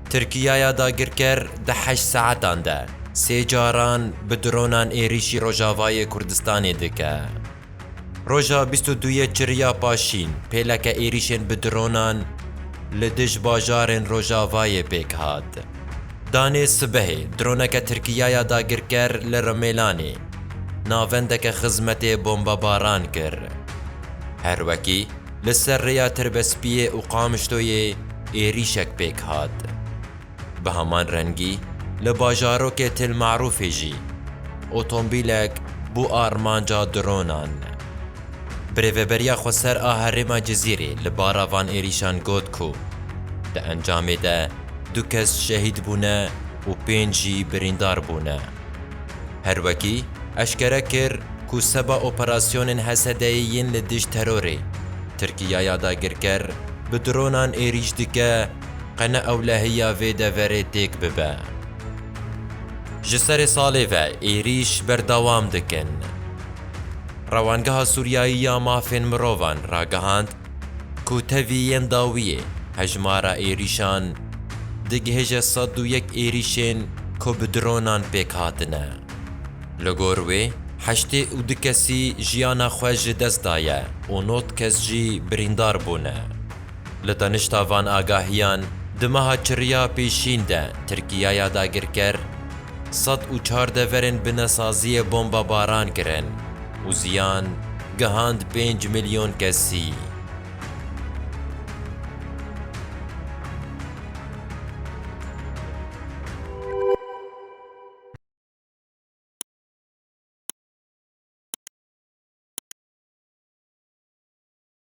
Tirkiyaya dagirker di heşt saetan de sê caran bi dronan êrîşî rojavayê Kurdistanê dike. Roja bîst û duyê çiriya paşîn pêleke êrîşên bi dronan li dij bajarên rojavayê pêk hat. Danê sibehê droneke Tirkiyaya dagirker li Rimelanê navendeke xizmetê bombebaran kir. Her wekî, li ser rêya Tirbespiyê û Qamişloyê êrîşek pêk hat. Bi heman rengî li bajarokê Til Merûfê jî otombîlek bû armanca dronan. Bi rêveberiya xweser a herêma Cizîrê li bara van êrîşan got ku di encamê de du kes şehîd bûne û pênc jî birîndar bûne. Her wekî eşkere kir ku seba operasyonên Hesedeyê yên li dijî terorê, Tirkiya ya dagirker bi dronan êrîş dike qe ne ewlehiya vê deverê têk bibe. Ji serê salê ve êrîş berdewam dikin. Rewangeha Sûriyayî ya Mafên Mirovan ragihand Ku tevî yên dawiyê hejmara êrîşan digihêje sed û yek êrîşên ku bi dronan pêk hatine. Li gor wê heştê û du kesî jiyana xwe ji dest daye û nod kes jî birîndar bûne. Li danişta van agahiyan di meha çiriya pêşîn de Tirkiyaya dagirker sed û çar deverên binesaziyê bombebaran kirin û ziyan gihand pênc milyon kesî.